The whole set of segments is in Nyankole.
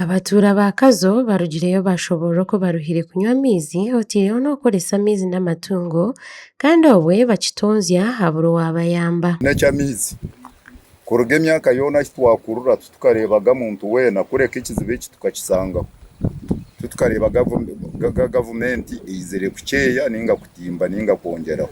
Abatuura ba Kazo barugireyo baashoboorora oku baruhire kunywa amaizi otaireho n'okukoresa amaizi n'amatungo kandi obwe bakitonzya habura owaabayamba. N'eky'amaizi. Kuruga emyaka yoona ahi twakurira titukareebaga muntu weena kureka ekizibu eki tukakisangaho. Titukareeba gavumenti eizire kukyeeya nainga kutimba nainga kwongyeraho.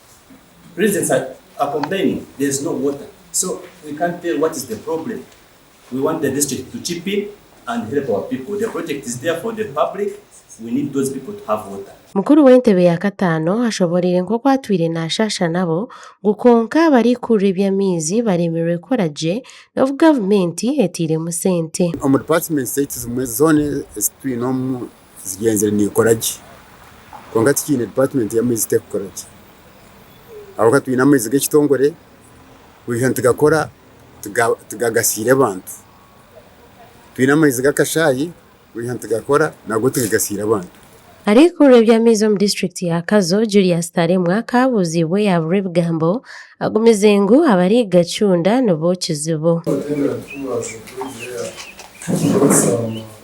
Mukuru w'entebe ya kataano ashoboreire nk'oku atwire naashaasha nabo ngu kwonka barikukurura eby'amaizi bareemerwe kukora gye n'obu gavumenti eteiremu sente. Omu dipatimenti zaitu zimwe zoona ezi twine omu Zigyenzire nikora gye kwonka tikiine department yamaizi tekukora gye ahabwokuba twine amaizi gekitongore burijo nitigakora tigagasiire abantu twine amaizi gakashayi burijo nitigakora nago tigagasiire abantu. Arikuurira eby'amaizi omu district ya Kazo Julius Taremwa akabuuziibwe yaburwa ebigambo agumize ngu abarikugacunda nibo kizibu.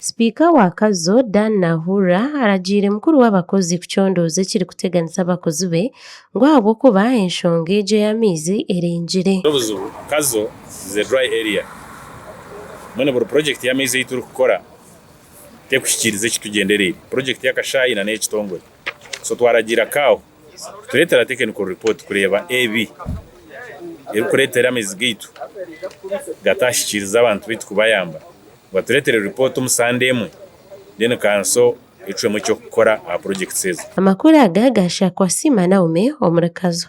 Sipiika wa Kazo, Dan Nahurra aragiire mukuru w'abakozi kucondooza ekirikuteganisa abakozi be ngu ahabw'okuba enshonga egyo ey'amaizi erengire. N'obuzibu, Kazo is a dry area, mbwenu buri purojekiti y'amaizi ei turikukora tekuhikiiriza eki tugyendereire, purojekiti y'akashaayi nana ey'ekitongore, so twaragiira Kaahu Tureetera Technical Report kureeba ebi erikureetera amaizi gaitu gatahikiiriza abantu baitu kubayamba. Ngu atureetere report omu Sande emwe, then Kanso etuhwemu eky'okukora aha projects ezo. Amakuru aga gaahikira kwa Ssi Manaume omuri Kazo.